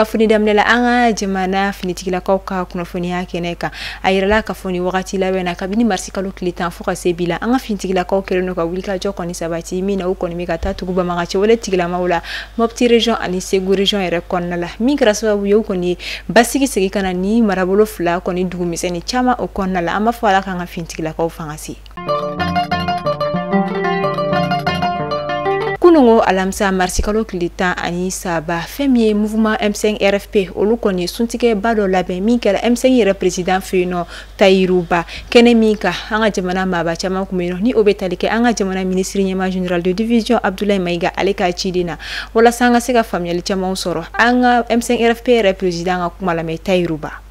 kunnafoni daminɛ la an ka jamana finitigilakaw ka kunnafoniya kɛnɛ kan a yirala k'a fɔ nin wagati laban na kabini marisi kalo tile tan fo ka se bi la an ka finitigilakaw kɛlen don ka wulikajɔ kɔni sabati min na u kɔni bɛ ka ta tugu banbaganci wale tigilamaw la mɔpti region ani segu region yɛrɛ kɔnɔna la min kɛra sababu ye u kɔni ye basigi segi ka na ni marabolo fila kɔni dugumisɛnnin caman o kɔnɔna la an b'a fɔ ala k'an ka finitigilakaw fanga si kunungo alamisa marisikalo tile tan ani saba fɛn min ye mouvement m5 rfp olu kɔni ye suntigɛba dɔ labɛn min kɛra m5 yɛrɛ président fɛ yen nɔ tayiru ba kɛnɛ min ka an ka jamana maaba caman kun bɛ yen nɔ ni o bɛ tali kɛ an ka jamana ministre ɲɛmaa général de division abdoulaye maïga ale ka ciden na walasa an ka se ka faamuyali camanw sɔrɔ an ka m5 rfp yɛrɛ président ka kuma lamɛn tayiru ba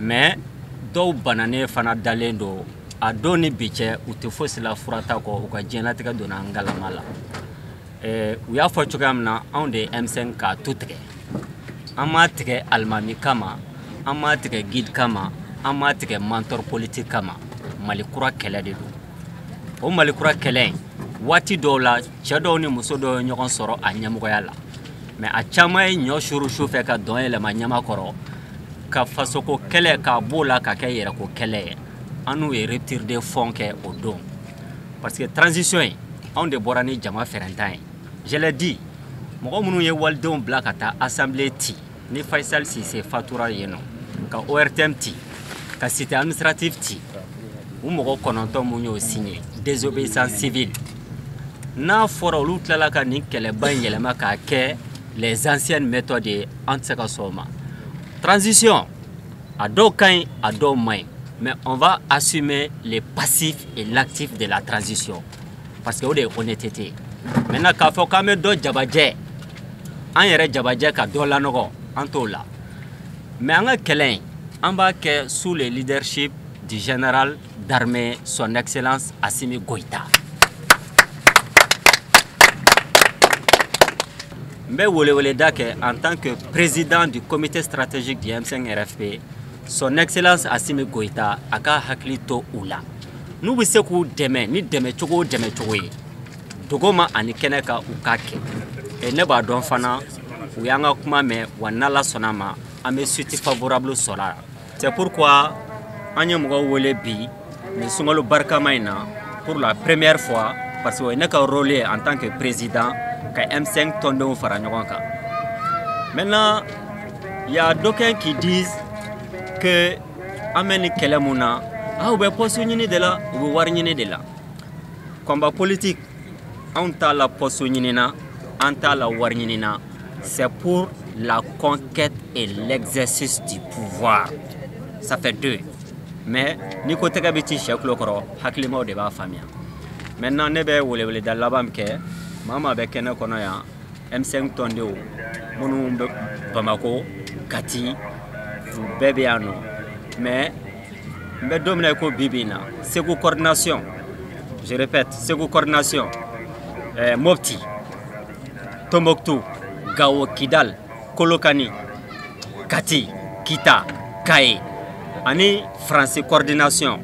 mais dɔw bananen fana dalen don a don ni bi cɛ u tɛ fosi la furata kɔ u ka diɲɛlatigɛ donna ngalama la eh, u y'a fɔ cogoya min na anw de ye m5 ka tu tigɛ an m'a tigɛ alimami kama an m'a tigɛ guide kama an m'a tigɛ mentor politique kama mali kura kɛlɛ de don o mali kura kɛlɛ in waati dɔw la cɛ dɔw ni muso dɔw ye ɲɔgɔn sɔrɔ a ɲɛmɔgɔya la mais a caman ye ɲɔ suru su fɛ ka dɔn yɛlɛma ɲama kɔrɔ ka fasoko kɛlɛ k'a b'o la ka kɛ yɛrɛko kɛlɛ ye an n'u ye rupture de fond kɛ o don parce que transition ye anw de bɔra ni jama fɛɛrɛntan ye je l'ai dit mɔgɔ minnu ye walidenw bila ka taa assemblée ci ni faisal cissé fatura yen nɔ ka ortm ci ka cité administrative ci u mɔgɔ kɔnɔntɔn mun y'o signé désobéissance civile n'a fɔra olu tilala ka nin kɛlɛba in yɛlɛma k'a kɛ les anciennes méthodes ye an tɛ se ka sɔn o ma transition a dɔw ka ɲi a dɔw man ɲi mais on va assumer les passifs et l'actif de la transition parce que o de ye honnêteté ye maintenant k'a fɔ k'an bɛ dɔ jabajɛ an yɛrɛ jabajɛ ka dɔ lanɔgɔ an t'o la mais an ka kɛlɛ in an b'a kɛ sous le leadership du général d'armée son excellence Assimi Goïta n bɛ weleweleda kɛ en tant que président du comité stratégique du M5 RFP son excellence Assimi Goïta a k'a hakili to u la n'u bɛ se k'u dɛmɛ ni dɛmɛcogo dɛmɛcogo ye dogo ma ani kɛnɛ ka u k'a kɛ ne b'a dɔn fana u y'an ka kuma mɛn wa n'ala sɔnna a ma an bɛ suite favorable sɔrɔ c'est pourquoi an ye mɔgɔw wele bi nin sunkalo barikama in na pour la première fois parce que ne ka rôle ye en tant que président ka m5 tɔndenw fara ɲɔgɔn kan maintenant il y a d'aucuns qui disent an bɛ nin kɛlɛ mun na aw bɛ pɔsu ɲini de la u bɛ wari ɲini de la combat politique anw t'a la pɔsu ɲini na an t'a la wari ɲini na c'est pour la conquête et l'exercice du pouvoir ça fait deux mais n'i ko tɛgɛ bɛ ci sɛ tulo kɔrɔ hakilimaw de b'a faamuya maintenant ne bɛ weleweleda laban min kɛ maa maa bɛ kɛnɛ kɔnɔ yan M5 tɔndenw minnu bɛ Bamako Kati u bɛɛ bɛ yan nɔ mais n bɛ don min na i ko bi bi in na Segu coordination je répète Segu coordination eh, Mopti Tombouctou Gao Kidal Kolokani Kati Kita Kayes ani France coordination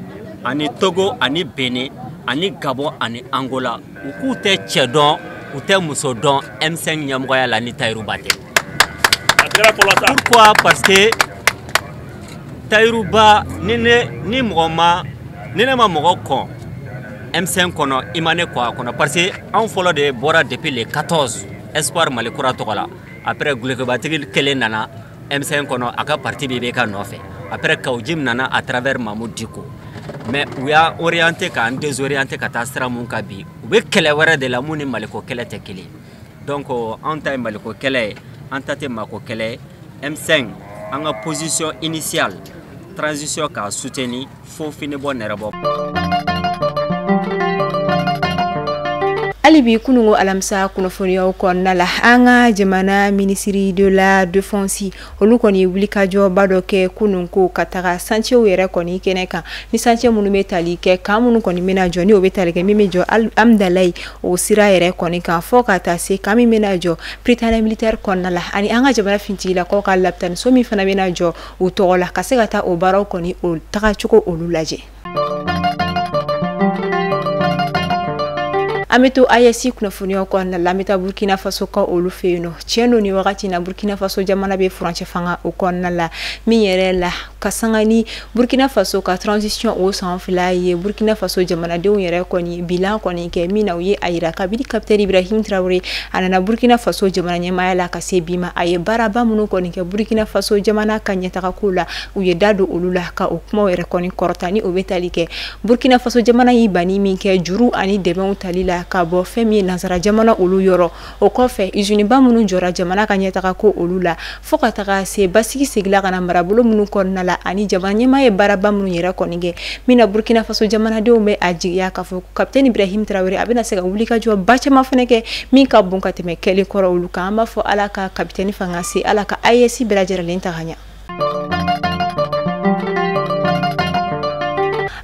ani Togo ani Bénin ani Gabon ani Angola u k'u tɛ cɛ dɔn u tɛ muso dɔn M5 ɲɛmɔgɔya la ni Tayiru Ba tɛ pourquoi parce que Tayiru Ba ni ne ni mɔgɔ ma ni ne ma mɔgɔ kɔn M5 kɔnɔ i ma ne kɔn a kɔnɔ parce que anw fɔlɔ de bɔra depuis le 14 Espoir Mali kura tɔgɔ la après dulokibatigi kelen nana M5 kɔnɔ a ka parti bɛɛ bɛ ka nɔfɛ après Kaou Djim nana à travers Mahmoud Dicko mais u y'a orienté k'an désorienté ka taa sira min kan bi u bɛ kɛlɛ wɛrɛ de la min ni Maliko kɛlɛ tɛ kelen donc anw ta ye Maliko kɛlɛ ye an ta tɛ maako kɛlɛ ye M5 an ka position initiale transition k'a soutenir fo fini bɔ nɛrɛ bɔ hali bi kununko alamisa kunnafoniyaw kɔnɔna la an ka jamana minisiri de la défense olu kɔni ye wulikajɔba dɔ kɛ kununko ka taga santiyew yɛrɛ kɔni kɛnɛ kan ni santiye minnu bɛ tali kɛ kan minnu kɔni bɛna jɔ ni o bɛ tali kɛ min bɛ jɔ Hamdallaye o sira yɛrɛ kɔni kan fɔ ka taa se kan min bɛna jɔ Prytanée militaire kɔnɔna la ani an ka jamana finitigilakaw ka lapitaniso min fana bɛna jɔ u tɔgɔ la ka se ka taa o baaraw kɔni o tagacogo olu lajɛ an bɛ to ayɛsi kunnafoniyaw kɔnɔna la an bɛ taa burkina faso ka olu fɛ yen nɔ tiɲɛ don nin wagati na burkina faso jamana bɛ furancɛ fanga o kɔnɔna la min yɛrɛ la ka sanga ni burkina faso ka transition o san fila ye burkina faso jamanadenw yɛrɛ kɔni bilan kɔni kɛ min na u ye a yira kabini kapitɛni ibrahim tarawele a nana burkina faso jamana ɲɛmaaya la ka se bi ma a ye baaraba minnu kɔni kɛ burukina faso jamana ka ɲɛtagako la u ye da don olu la ka o kumaw yɛrɛ kɔni kɔrɔta ni o bɛ tali kɛ burukina faso jamana y'i banni min kɛ juru ani dɛmɛw tali la ka bɔ fɛn min ye nansara jamana olu yɔrɔ o kɔfɛ iziniba minnu jɔra jamana ka ɲɛtaga ko olu la fɔɔ ka taga se basigi segila ka na marabolo minnu kɔnɔna la ani jamana ɲɛmaa ye baaraba minnu yɛrɛ kɔni kɛ min na burkina faso jamanadenw bɛ a jigiya k'a fɔ kapitɛni ibrahim tarawele a bɛna se ka wuli ka jɔ ba caman fana kɛ min ka bon ka tɛmɛ kɛlen kɔrɔ olu kan an b'a fɔ ala ka kapitɛni fanga se ala ka aes bɛɛ lajɛrɛlen ta ka ɲa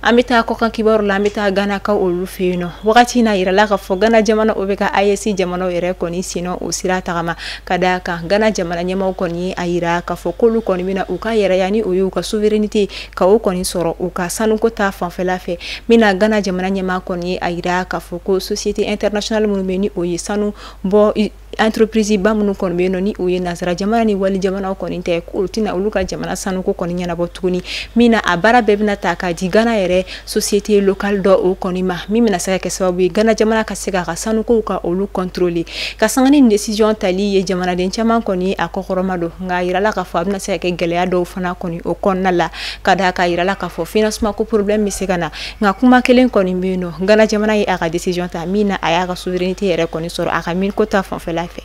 an bɛ taa kɔkan kibaru la an bɛ taa ganakaw olu fɛ yen nɔ wagati na yirala k'a fɔ gana jamana o bɛ ka aes jamanaw yɛrɛ kɔni sennɔ o sira tagama ka d'a kan gana jamana ɲɛmaaw kɔni y'a yira k'a fɔ k'olu kɔni bɛna u ka yɛrɛya ni o ye u ka souveraineté ka o kɔni sɔrɔ u ka sanuko ta fanfɛla fɛ min na gana jamana ɲɛmaa kɔni ye a yira k'a fɔ ko société internationale minnu bɛ ni o ye sanu bɔ entreprise ba minnu kɔni bɛ yen nɔ ni o ye nasara jamana ni wali jamanaw kɔni tɛ olu tɛna olu ka jamana sanuko kɔni ɲɛnabɔ tuguni min na a baara bɛɛ bɛna ta ka di gana yɛrɛ société locale dɔ o kɔni ma min bɛna se ka kɛ sababu ye gana jamana ka se k'a ka sanukow ka olu contrôler ka sanga ni décision tali ye jamanaden caman kɔni ye a kɔkɔrɔmadon nka a yirala k'a fɔ a bɛna se ka kɛ gɛlɛya dɔw fana kɔni o kɔnɔna la ka d'a kan a yirala k'a fɔ financement ko problème bɛ se ka na nka kuma kelen kɔni bɛ yen nɔ gana jamana ye a ka décision ta min na a y'a ka souveraineté yɛrɛ kɔni sɔrɔ a ka miniko ta fanfɛla fɛ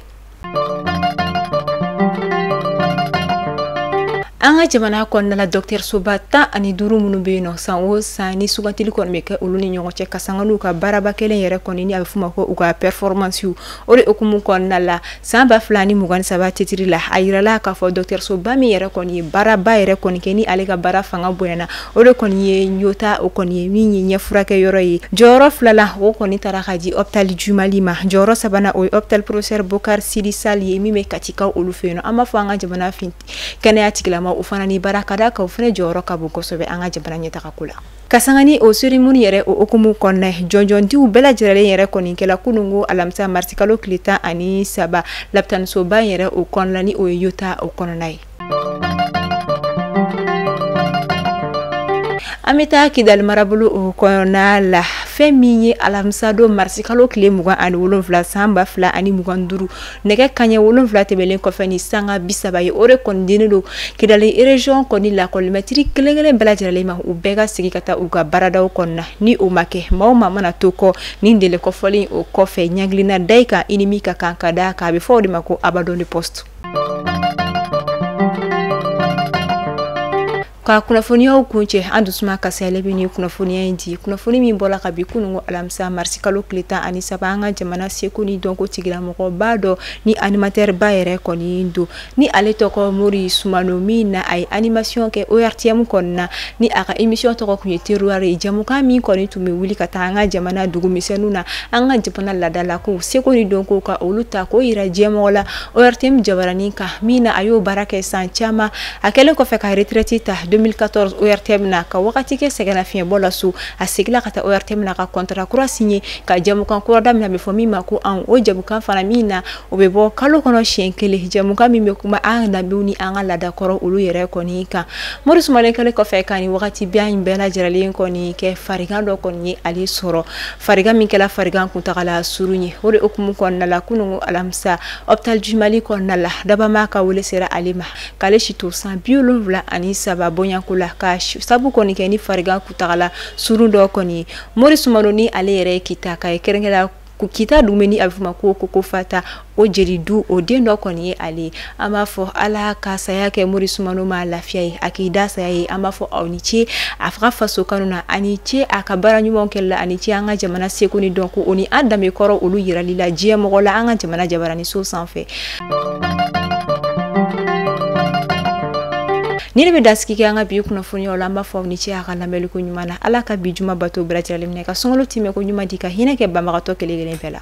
an ka jamana kɔnɔna la dɔgɔtɔrɔsoba tan ani duuru minnu bɛ yen nɔ san o san ni sugantili kɔni bɛ kɛ olu ni ɲɔgɔn cɛ ka sanga n'u ka baaraba kɛlen yɛrɛ kɔni ni a bɛ f'o ma ko u ka performansiw o de hukumu kɔnɔna la san ba fila ni mugan ni saba titiri la a yirala k'a fɔ dɔgɔtɔrɔsoba min yɛrɛ kɔni ye baaraba yɛrɛ kɔni kɛ ni ale ka baara fanga bonyana o de kɔni ye yota o kɔni ye min ye ɲɛfurakɛyɔrɔ ye jɔyɔrɔ filala o kɔni tara ka di hôpital du mali ma jɔyɔrɔ sabana o ye hôpital professeur bocar sidy sall ye min bɛ katikaw olu fɛ yen nɔ an b'a fɔ an ka jamana in kɛnɛya tigilama o fana ni baara ka d'a kan o fana jɔyɔrɔ ka bon kosɛbɛ an ka jamana ɲɛtaga ko la ka sanga ni o seremoni yɛrɛ o hukumu kɔnɔna ye jɔnjɔndiw bɛɛ lajɛrɛlen yɛrɛ kɔni kɛla kununko alamisa marisikalo tile tan ani saba lapitanisoba yɛrɛ o kɔnɔna ni o ye yota o kɔnɔna ye An bɛ taa kidali marabolo o kɔnɔna la fɛn min ye alamisadon marisikalo tile mugan ani wolonwula san ba fila ani mugan duuru nɛgɛ kaɲɛ wolonwula tɛmɛnlen kɔfɛ ni sanga bi saba ye o de kɔni dilen don kidali région kɔni lakɔlimɛtiri kelenkelen bɛɛ lajɛrɛlen ma u bɛɛ ka segin ka taa u ka baaradaw kɔnɔna na ni o ma kɛ maa o maa mana to kɔ nin délai kɔfɔlen o kɔfɛ ɲangili na da i kan i ni min ka kan ka da a kan a bɛ fɔ o de ma ko abandon de poste ka kunnafoniyaw kuncɛ an dusumakasiyalen bɛ ni kunnafoniya in di kunnafoni min bɔra kabi kununko alamisa marisikalo tile tan ani saba an ka jamana seko ni dɔnko tigilamɔgɔba dɔ ni animatɛri ba yɛrɛ kɔni don ni ale tɔgɔ mori sumano min na a ye animasiyɔn kɛ ortm kɔni na ni a ka emisiyɔn tɔgɔ tun ye teruwari ye jɛmukan min kɔni tun bɛ wuli ka taa an ka jamana dugumisɛnninw na an ka jamana laadalakow seko ni dɔnko ka olu ta k'o yira diɲɛmɔgɔ la ORTM jabaranin kan min na a y'o baara kɛ san caman a kɛlen kɔfɛ ka retraite ta 2014 ORTM na ka wagati kɛ sɛgɛnnafiɲɛbɔ la so a seginna ka taa ORTM na ka contrat kura signé ka jɛmukan kura daminɛ a bɛ fɔ min ma ko anw o jɛmukan fana min na o bɛ bɔ kalo kɔnɔ siɲɛ kelen jɛmukan min bɛ kuma an ka danbew ni an ka laadakɔrɔ olu yɛrɛ kɔni kan Mori Sumano kɛlen kɔfɛ ka nin wagati bɛɛ in bɛɛ lajɛlen kɔni kɛ farigan dɔ kɔni ye ale sɔrɔ farigan min kɛra farigan kuntagala surun ye o de hukumu kɔnɔna la kunun alamisa hôpital du mali kɔnɔna la dabaa maa ka wele sera ale ma k'ale si to san bi wolonwula ani saba bonyanko la ka sabu kɔni kɛ ni farigan kuntagala surun dɔ kɔni ye mori sumano ni ale yɛrɛ ye kitaka ye kɛrɛnkɛrɛnya kita dugu min ni a bɛ f'o ma ko kokofata o jeli du o den dɔ kɔni ye ale ye an b'a fɔ ala ka saya kɛ mori sumano ma lafiya ye a k'i da saya ye an b'a fɔ aw ni ce a fa ka faso kanu na ani ce a ka baara ɲumanw kɛli la ani ce an ka jamana seko ni dɔnko o ni an danbe kɔrɔ olu yirali la diɲɛ mɔgɔ la an ka jamana jabarani so sanfɛ nin de bɛ dansigi kɛ an ka bi kunnafoniw la an b'a fɔ aw ni ce a ka lamɛnliko ɲuman na ala ka bi juma bato bɛrɛtirali minɛ ka sunkalo timɛko ɲuman di ka hinɛ kɛ banabagatɔ kelen kelen bɛɛ la